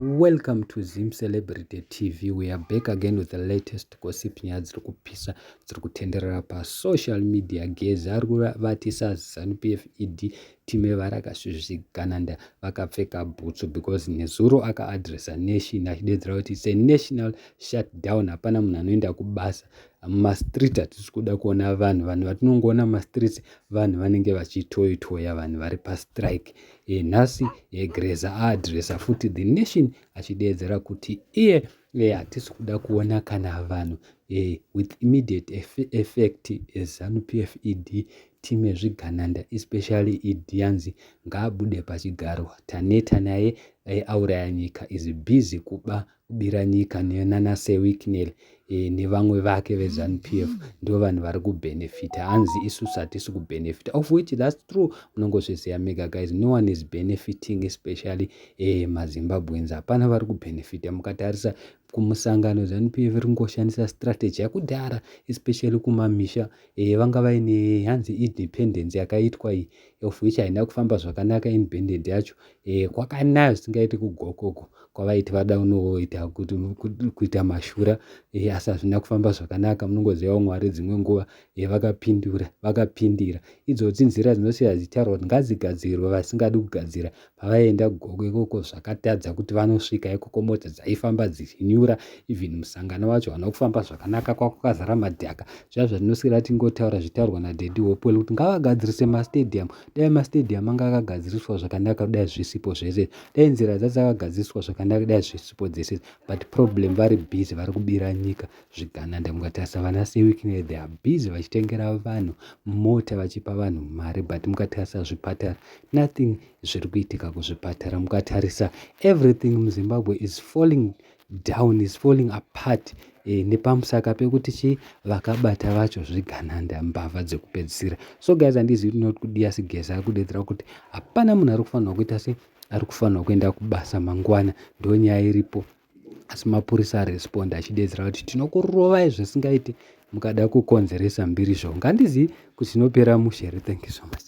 Welcome to Zim Celebrity TV. We are back again with the latest gossip nyaya dziri kupisa dziri kutenderera pasocial media. Gezi ari kuvatisa Zanu PF ED time varakasvizvigananda vakapfeka bhutsu because nezuro akaadressa nation achidedzera kuti it's a national shutdown. Hapana munhu anoenda kubasa mumastreet hatisi kuda kuona vanhu vanhu vatinongoona mumastreets vanhu vanenge vachitoitoya vanhu vari pastrike. e, nhasi e, greza aadresa futi the nation achideedzera kuti iye e, hatisi kuda kuona kana vanhu e, with immediate effect e, zanu pf ed team ezvigananda especially ed yanzi ngaabude pachigaro taneta naye e, auraya nyika is busy kuba Biranyika nana Sir Wicknell e, nevamwe vake veZanu PF ndivo vanhu vari kubenefita hanzi isusu hatisi kubenefita of which that's true munongozviziva mega guys no one is benefiting especially e, mazimbabweans hapana vari kubenefita mukatarisa kumusangano zanu pf ri kungoshandisa strategy yakudhara especially kumamisha e, vanga vaine hanzi independence yakaitwa iyi of which haina kufamba zvakanaka in banded yacho eh, kwakanaya zvisingaiti kugokoko kwavaiti vada unoita kuti kuita mashura eh, asi hazvina kufamba zvakanaka munongozivawo mwari dzimwe nguva eh, vakapindura vakapindira idzoti nzira dzinosiya dzichitaurwa kuti ngadzigadzirwe vasingadi kugadzira pavaienda gogo ikoko zvakatadza kuti vanosvika ikoko mota dzaifamba dzichinyura even musangano wacho hauna kufamba zvakanaka kwakukazara madhaka zviya zvatinoswera tingotaura zvitaurwa nadedi hopewell kuti ngavagadzirise mastadium dai mastadium anga akagadziriswa zvakanaka kudai zvisipo zvese dai nzira dzadzakagadziriswa zvakanaka kudai zvisipo dzese but problem vari busy vari kubira nyika zvigananda ndai mukatarisa vana sewikine they are busy vachitengera vanhu mota vachipa vanhu mari but mukatarisa zvipatara nothing zviri kuitika kuzvipatara mukatarisa everything muzimbabwe is falling down is falling apart e, nepamusaka pekuti chi vakabata vacho zvigananda mbavha dzekupedzisira so guys handizivi tinoti kudiya sigeza ari kudedzera kuti hapana munhu ari kufanirwa kuita se ari kufanirwa kuenda kubasa mangwana ndonyaya iripo asi mapurisa aresponda achidedzera kuti tinokurovai zvisingaiti mukada kukonzeresa mhirizhonga handizivi kuti zvinopera mushe here thank you so much